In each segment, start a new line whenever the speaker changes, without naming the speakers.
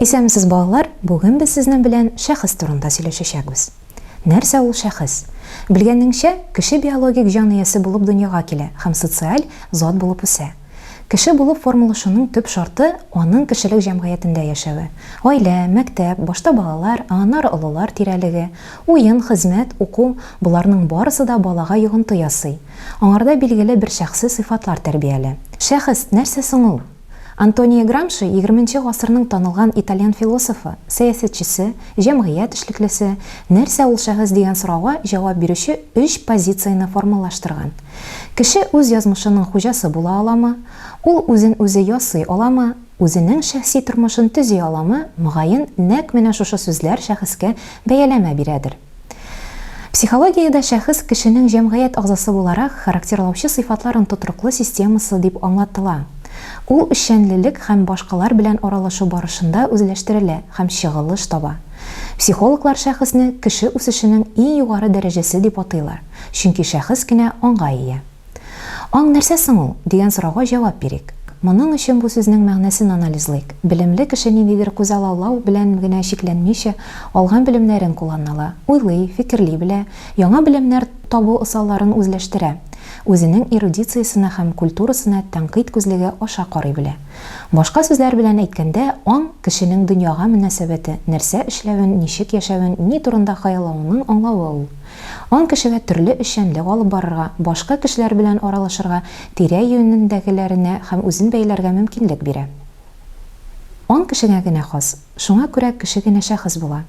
Исәнмесез балалар, бүген без сезнең белән шәхес турында сөйләшәчәкбез. Нәрсә ул шәхес? Белгәнеңчә, кеше биологик җан иясе булып дөньяга килә һәм социаль зат булып үсә. Кеше булып формалашуның төп шарты, аның кешелек җәмгыятендә яшәве. Гаилә, мәктәп, башта балалар, ә аннары олылар тирәлеге, уен, хезмәт, уку, боларның барысы да балага йогынты ясый. Аңарда билгеле бер шәхси сыйфатлар тәрбияли. Шәхес, нәрсә соң ул? Антонио Грамши, егерменче гасырның танылган итальян философы, сәясәтчесе, җәмгыять эшлеклесе, нәрсә ул шәхес дигән сорауга җавап бирүче өч позицияне формалаштырган. Кеше үз язмышының хуҗасы була аламы? Ул үзен үзе ясый аламы? Үзенең шәхси тормышын төзи аламы? Мөгаен, нәкъ менә шушы сүзләр шәхескә бәяләмә бирәдер. Психологиядә шәхес кешенең җәмгыять агъзасы буларак характерлаучы сыйфатларын тотрыклы системасы дип аңлатыла. Ул эшчәнлелек һәм башкалар белән аралашу барышында үзләштерелә һәм чыгылыш таба. Психологлар шәхесне кеше үсешенең иң югары дәрәҗәсе дип атыйлар, чөнки шәхес кенә аңга ия. Аң нәрсә соң ул? дигән сорауга җавап бирик. Моның өчен бу сүзнең мәгънәсен анализлыйк. Белемле кеше ниндидер күзаллау белән генә чикләнмичә, алган белемнәрен кулланала, уйлый, фикерли белә, яңа белемнәр табу ысалларын үзләштерә, үзенең эрудициясенә һәм культурасына тәнкыйть күзлеге аша карый белә. Башка сүзләр белән әйткәндә, аң, кешенең дөньяга мөнәсәбәте, нәрсә эшләвен, ничек яшәвен, ни турында хыяллавының аңлавы ул. Ан кешегә төрле эшчәнлек алып барырга, башка кешеләр белән аралашырга, тирә-юнендәгеләренә һәм үзен бәяләргә мөмкинлек бирә. Ан кешегә генә хас, шуңа күрә кеше генә шәхес була.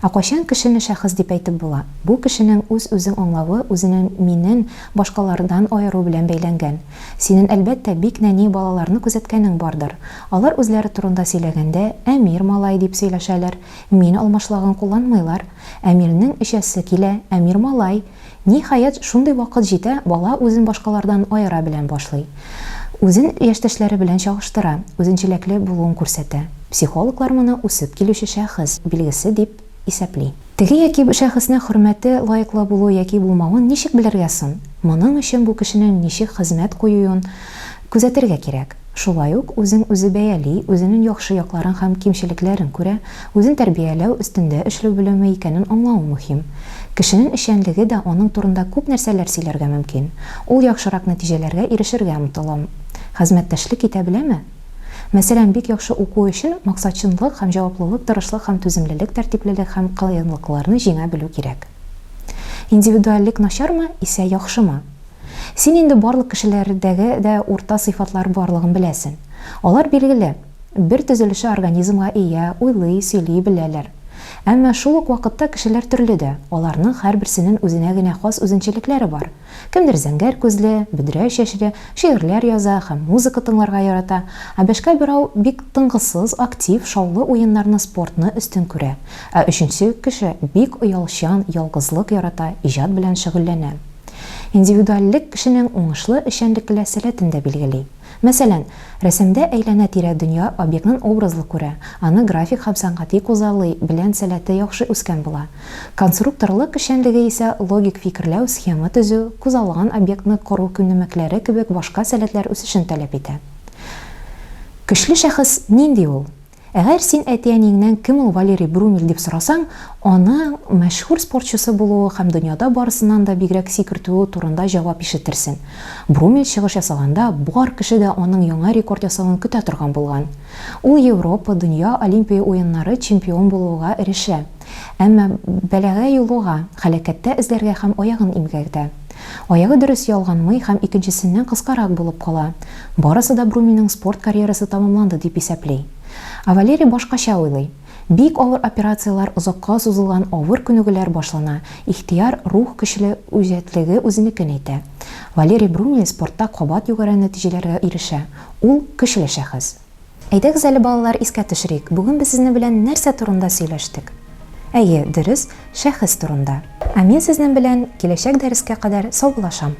Ә кайчан кешене шәхес дип әйтеп була? Бу кешенең үз-үзең аңлавы үзенең минен башкалардан аеру белән бәйләнгән. Синен әлбәттә бик нәни балаларны күзәткәнең бардыр. Алар үзләре турында сөйләгәндә, Әмир малай дип сөйләшәләр, Мин алмашлаган кулланмыйлар. Әмирнең эчәсе килә, Әмир малай. Ниһаять, шундый вакыт җитә, бала үзен башкалардан аера белән башлый. Үзен яшьтәшләре белән чагыштыра, үзенчәлекле булуын күрсәтә. Психологлар моны үсеп килүче шәхес билгесе дип исәпли. Теге яки бу шәхеснең хөрмәте лаеклы булу яки булмавын ничек белергә соң? Моның өчен бу кешенең ничек хезмәт куюын, Күзәтергә кирәк. Шулай ук үзен үзе бәяли, үзенен яхшы якларын һәм кимчелекләрен күрә, үзен тәрбияләү, өстендә эшлү белеме икәнен аңлавы мөһим. Кешенен эшчәнлеге дә аның турында күп нәрсәләр сөйләргә мөмкин. Ул яхшырак нәтиҗәләргә ирешергә омтылам. Хәзмәттәшлек итә беләме? Мәсәлән, бик яхшы уку өчен максатчынлык һәм җаваплылык, тырышлык һәм түземлелек, тәртиплелек һәм кыенлыкларны җиңә белү кирәк. Индивидуальлек начармы исә яхшымы? Син инде барлык кешеләрдәге дә урта сыйфатлар барлыгын беләсен. Алар билгеле, бер төзелеше организмга ия, уйлый, сөйли беләләр. Әмма шул ук вакытта кешеләр төрле дә, аларның һәрберсенен үзенә генә хас үзенчәлекләре бар. Кемдер зәңгәр күзле, бөдрә чәчле, шигырьләр яза һәм музыка тыңларга ярата, ә бәшкә берау бик тынгысыз, актив, шаулы уеннарны, спортны өстен күрә, ә өченче кеше бик оялчан, ялгызлык ярата, иҗат белән шөгыльләнә. Индивидуальлек кешенең уңышлы эшчәнлекле сәләтен дә билгели. Мәсәлән, рәсемдә әйләнә-тирә дөнья объектнын образлы күрә, аны график һәм сәнгати кузалый белән сәләте яхшы үскән була. Консрукторлык эшчәнлеге исә логик фикерләү, схема төзү, кузалган объектны кору күнемекләре кебек башка сәләтләр үсешен таләп итә. Көчле шәхес нинди ул? Әгәр син әти-әниеңнән кем ул Валерий Брумель дип сорасаң, аның мәшһүр спортчысы булуы һәм дөньяда барысыннан да бигрәк сикертүе турында җавап ишетерсең. Брумель чыгыш ясаганда, бар кеше дә аның яңа рекорд ясавын көтә торган булган. Ул Европа, дөнья, Олимпия уеннары чемпион булуга эрешә. Әмма бәлагә юлыга, һәлакәттә эзләргә һәм аягын имгәтә. Аягы дөрес ялганмый һәм икенчесеннән кыскарак булып кала. Барысы да Бруминың спорт карьерасы тәмамланды дип исәпли. Ә Валерий башкача уйлый. Бик авыр операцияләр, озакка сузылган авыр күнегүләр башлана, ихтыяр, рух көчле, үҗәтлеге үзенекен әйтә. Валерий Бруми спортта кабат югары нәтиҗәләргә ирешә. Ул, көчле шәхес. Әйдәгез әле, балалар, искә төшерик, бүген без сезнең белән нәрсә турында сөйләштек? Әйе, дөрес, шәхес турында. Ә мин сезнең белән киләчәк дәрескә кадәр саубуллашам.